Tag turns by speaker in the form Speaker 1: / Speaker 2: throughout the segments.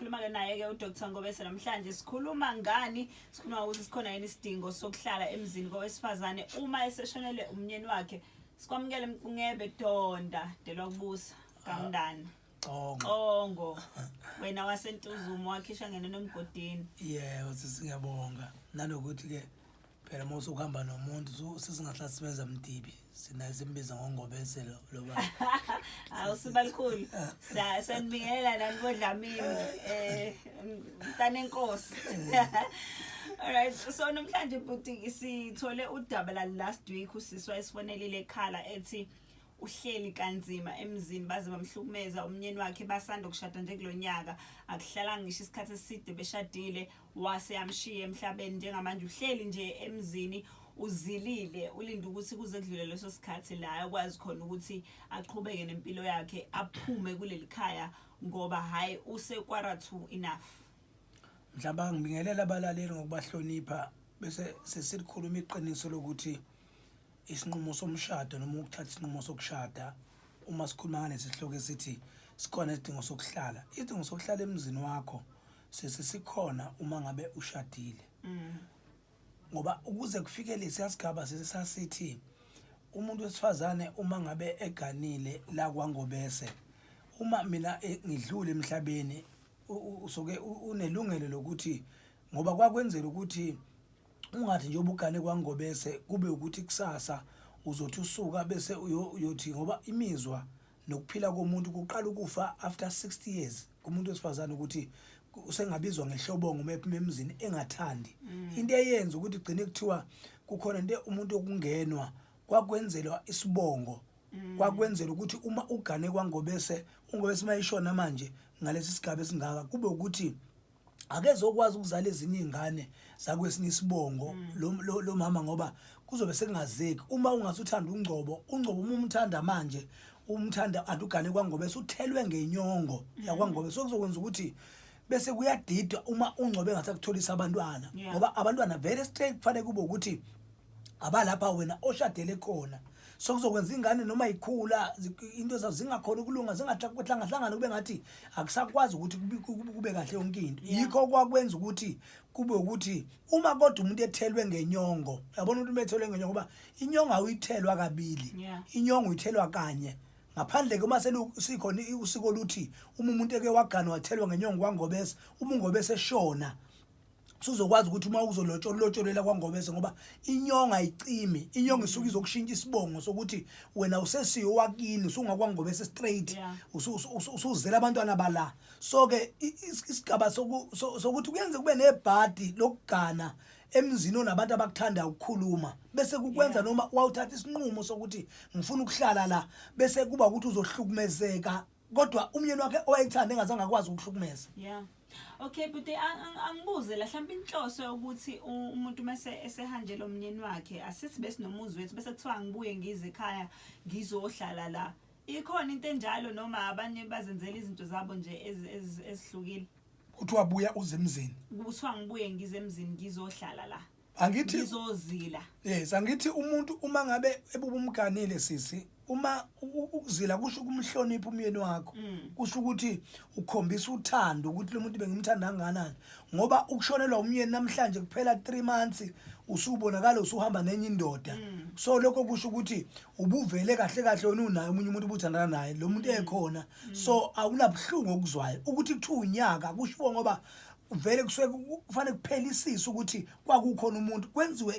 Speaker 1: Khuluma-ke naye-ke uDr Ngobese namhlanje sikhuluma ngani sikhuluma ukuthi sikhona yini isidingo sokuhlala emzini kowesifazane uma eseshonele umnyeni wakhe sikwamukele mncebe donda delwa kubusa kamndana Xongo. Xongo. Wena wasentuzumo wakhishwa ngene nomgodini. Yeah, usisi
Speaker 2: ngiyabonga. Nanokuthi ke phela uma usukuhamba nomuntu so- sesingahlala simenza mdibi sinaye simbiza ngongobeselo lo baba Hawu
Speaker 1: sibalikhulu. Sa- Sanibingelela nani bodlamini. Eh mntana enkosi. Alright, so namhlanje bhuti sithole udaba la last week usiswa esifonelile ekhala ethi uhleli kanzima emzini baze bamhlukumeza umnyeni wakhe basanda ukushada nje kulonyaka akuhlalanga ngisho isikhathi eside beshadile wase amshiye emhlabeni njengamanje uhleli nje emzini uzilile ulinde ukuthi kuze kudlule leso sikhathi la akwazi khona ukuthi aqhubeke nempilo yakhe aphume kuleli khaya ngoba hhayi usekwarathu enough mhlawumbe
Speaker 2: angibingelela abalaleli ngokubahlonipha bese sesilikhuluma iqiniso lokuthi isinqumo somshado noma ukuthatha isinqumo sokushada uma sikhuluma ngalesi sihloko esithi sikhona isidingo sokuhlala isidingo sokuhlala emzini wakho sisi sikhona uma ngabe ushadile mm. ngoba ukuze kufike lesi yasigaba sisi sasithi umuntu wesifazane uma ngabe eganile la kwangobese uma mina eh, ngidlule emhlabeni usoke unelungelo lokuthi ngoba kwakwenzela ukuthi ungathi nje ubugane kwangobese kube ukuthi kusasa uzothi usuka bese uyothi ngoba imizwa nokuphila komuntu kuqala ukufa after 60 years kumuntu wesifazane ukuthi usengabizwa ngehlobongo uma ephuma emzini engathandi mm. into eyenza ukuthi kugcine kuthiwa kukhona into umuntu okungenwa kwakwenzelwa isibongo mm. kwakwenzela ukuthi uma ugane kwangobese ungobese mayishona manje ngalesi sigaba esingaka kube ukuthi akezokwazi ukuzala ezinye izingane zakwesinye isibongo mm. lo, lo, lo mama ngoba kuzobe sekungazeki uma ungasuthanda ungcobo ungcobo uma umthanda manje umthanda adugane kwangobe suthelwe ngenyongo mm. yakwangobe so kuzokwenza ukuthi bese kuyadidwa uma ungcobe engasakutholisa abantwana ngoba abantwana very straight kufanele kube ukuthi abalapha wena oshadele khona so kuzokwenza ingane noma ikhula into zazo zingakhona ukulunga zingahlangahlanganwa kube ngathi akusakwazi ukuthi kube kahle yonke into yikho kwakwenza ukuthi kube ukuthi uma kodwa umuntu ethelwe ngenyongo yabona ukuthi umethelwe ngenyongo ngoba inyongo awuyithelwa kabili inyongo uyithelwa kanye ngaphandle ke uma selikhona usiko oluthi uma umuntu eke wagana wathelwa ngenyongo kwangobese uma ungobese eshona suzokwazi ukuthi uma uzolotshola ulotsholela kwangobese ngoba inyonga ayicimi inyonga isuke izokushintsha isibongo sokuthi wena usesiyo wakini usungakwangobese straight Yeah. usu- usu- usu- usuzela abantwana bala so ke i- is- isigaba soku- so- sokuthi kuyenze kube nebhadi lokugana emzini onabantu abakuthanda ukukhuluma bese kukwenza Yeah. noma wawuthatha isinqumo sokuthi ngifuna ukuhlala la bese kuba ukuthi uzohlukumezeka kodwa umyeni wakhe owayethanda engazange akwazi ukuhlukumeza yeah okay
Speaker 1: but angibuze la mhlawumbe inhloso yokuthi umuntu mase esehanjela umnyeni wakhe asithi besinomuzi wethu bese kuthiwa ngibuye ngize ekhaya ngizohlala la ikhona into enjalo noma abanye bazenzela izinto zabo nje ezihlukile kuthiwa
Speaker 2: buya uze emzini kuthiwa ngibuye
Speaker 1: ngize emzini ngizohlala la angithi ngizozila yes angithi
Speaker 2: umuntu uma ngabe ebubumganile sisi uma ukuzila kusho kumhlonipha umyeni wakho mm. kusho ukuthi ukhombisa uthando ukuthi lo muntu bengimthanda kangakanani ngoba ukushonelwa umyeni namhlanje kuphela 3 months usubonakala usuhamba nenye indoda mm. so lokho kusho ukuthi ubuvele kahle kahle wena unaye umunye umuntu ubuthandana naye lo muntu mm. ekhona so awunabuhlungu okuzwayo ukuthi kuthiwa unyaka kushiwo ngoba vele kusuke kufanele kuphelisise ukuthi kwakukhona umuntu kwenziwe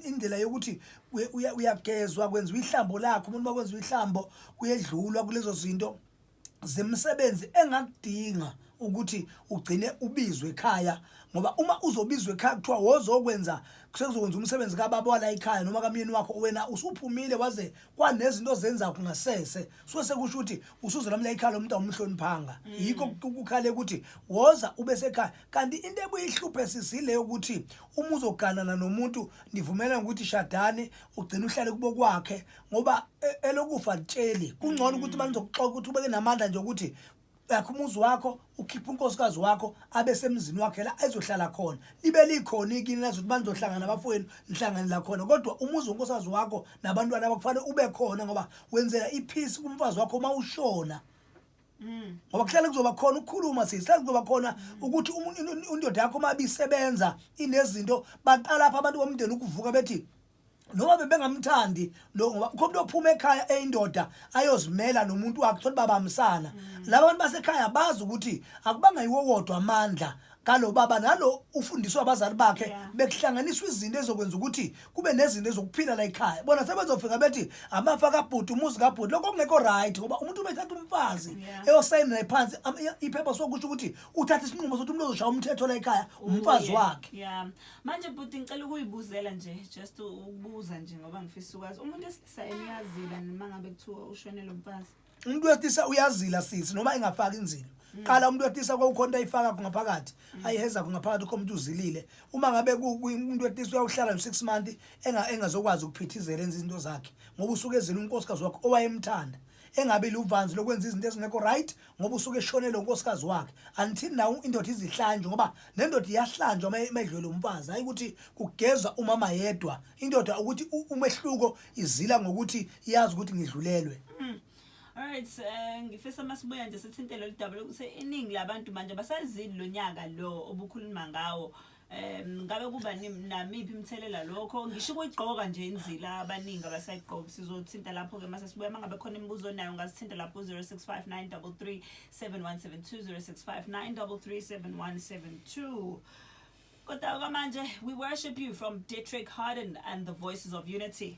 Speaker 2: indlela yokuthi uyagezwa kwenziwa ihlambo lakhe umuntu makwenziwa ihlambo kuyedlulwa kulezo zinto zemisebenzi engakudinga ukuthi ugcine ubizwe ekhaya ngoba uma uzobizwa ekhaya kuthiwa wozokwenza sekuzokwenza umsebenzi kababa wala ekhaya noma kamyeni wakho wena usuphumile waze kwanezinto zenza kungasese so sekusho ukuthi usuze lamla ikhala umuntu awumhloniphanga mm. yikho kukhale ukuthi woza ube sekhaya kanti into ebuyihluphe sisile ukuthi uma uzoganana nomuntu nivumelana ukuthi shadane ugcina uhlale kubo kwakhe ngoba e, elokufa litsheli kungcono ukuthi mm. banizokuxoxa ukuthi ubeke namandla nje ukuthi yakho umuzi wakho ukhipha unkosikazi wakho abe semzini wakhe la ezohlala khona libe likhona ikini lazothi banizohlangana abafowenu nihlangane la khona kodwa umuzi wonkosikazi wakho nabantwana bakufanele ube khona ngoba wenzela iphisi kumfazi wakho uma ushona mm. ngoba kuhlale kuzoba khona ukukhuluma sisi kuhlale kuzoba khona ukuthi indoda yakho uma ibisebenza inezinto baqala apha abantu bomndeni ukuvuka bethi noma bebengamthandi lo ngoba kukho umuntu ophuma ekhaya eyindoda ayozimela nomuntu wakhe thola babamsana mm. labantu basekhaya bazi ukuthi akubanga yiwo wodwa amandla kalo baba nalo ufundiswa abazali bakhe bekuhlanganiswa izinto ezokwenza ukuthi kube nezinto ezokuphila la ekhaya bona sebezofika bethi amafa kabhuti umuzi kabhuti lokho kungekho right ngoba umuntu ubethatha umfazi eyosayina naye phansi iphepha sokusho ukuthi uthatha isinqumo sokuthi umuntu ozoshaya umthetho la ekhaya umfazi wakhe manje bhuti
Speaker 1: ngicela ukuyibuzela nje just ukubuza nje ngoba ngifisa ukwazi umuntu esilisa eniyazila noma ngabe kuthiwa ushonele umfazi umuntu wesilisa
Speaker 2: uyazila sisi noma engafaki inzilo mm. qala umuntu wesilisa kwawukhonto ayifaka ngaphakathi mm. ayiheza ngaphakathi ukho umuntu uzilile uma ngabe umuntu wesilisa uyawuhlala no 6 months enga engazokwazi ukuphithizela enza izinto zakhe ngoba usuke ezila unkosikazi wakhe owayemthanda engabe luvanzi lokwenza izinto ezingekho right ngoba usuke eshonele unkosikazi wakhe until now indoda izihlanjwe ngoba nendoda iyahlanjwa uma imedlwele umfazi hayi ukuthi kugezwa umama yedwa indoda ukuthi u- umehluko izila ngokuthi iyazi ukuthi ngidlulelwe Alright,
Speaker 1: eh, ngifisa masibuya nje sithinte lolu daba lokuthi iningi labantu manje abasazili lo nyaka lo obukhuluma ngawo um ngabe kuba namiphi imithelela lokho ngisho ukuyigqoka nje inzila abaningi abasayigqoki sizothinta lapho-ke uma sesibuya uma ngabe khona imibuzo onayo ungasithinta lapho ku-zero six five nine double three seven one seven two zero six five nine double three seven one seven two kodwa kwamanje we worship you from detrick harden and the voices of unity